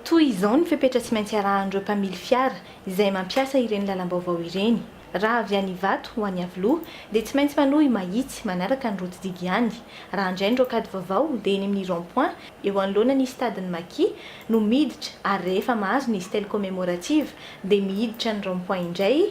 Toy izao ny fepetra tsy maintsy arahan'ireo mpamily fiara izay mampiasa ireny lalam-baovao ireny, Raha avy any Ivato ho any Iavoloha dia tsy maintsy manohy mahitsy manaraka ny route digue ihany. Raha handray ny rocade vaovao dia eny amin'ny rond point eo anoloana ny stade-n'ny Maki no miditra ary rehefa mahazo ny stèle commémorative dia mihiditra ny rond point indray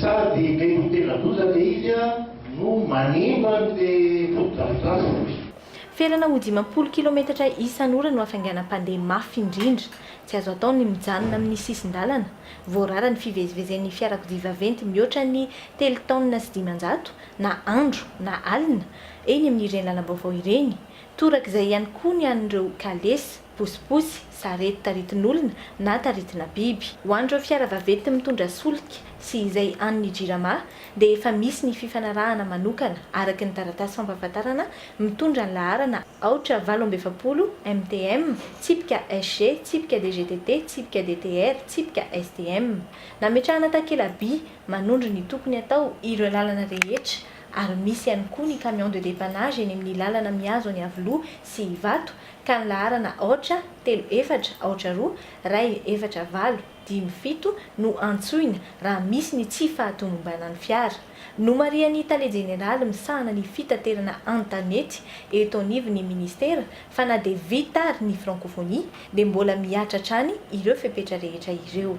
Sady mety ho tena loza le izy a no manimba an le fotodrafitrasa oy. Felana ho dimampolo kilometatra isan'ora no hafainganam-pandeha mafy indrindra. Tsy azo atao ny mijanona amin'ny sisin-dalana. Voarara ny fivezivezen'ny fiarakodia vaventy mihoatra ny telo taonina sy dimanjato, na andro na alina, eny amin'ireny lalam-baovao ireny. Torak'izay ihany koa ny an'ireo kalesa. posiposy, sarety taritin'olona na taritina biby. Ho an'ireo fiara vaventy mitondra solika sy izay an'ny Jirama dia efa misy ny fifanarahana manokana araka ny taratasy fampahafantarana mitondra ny laharana aotra valo amby efapolo MTM, tsipika SG, tsipika DGTT, tsipika DTR, tsipika STM. Nametrahana takela-by manondro ny tokony hatao ireo lalana rehetra ary misy ihany koa ny camion de dépannage eny amin'ny lalana mihazo an'i Iavoloha sy Ivato ka ny laharana aotra, telo, efatra, aotra, roa, iray, efatra, valo, dimy, fito no antsoina raha misy ny tsy fahatomombanan'ny fiara. Nomarihan'ny tale jeneraly misahana ny fitaterana an-tanety eto anivon'ny ministera fa na dia vita ary ny frankofonia dia mbola mihatra hatrany ireo fepetra rehetra ireo.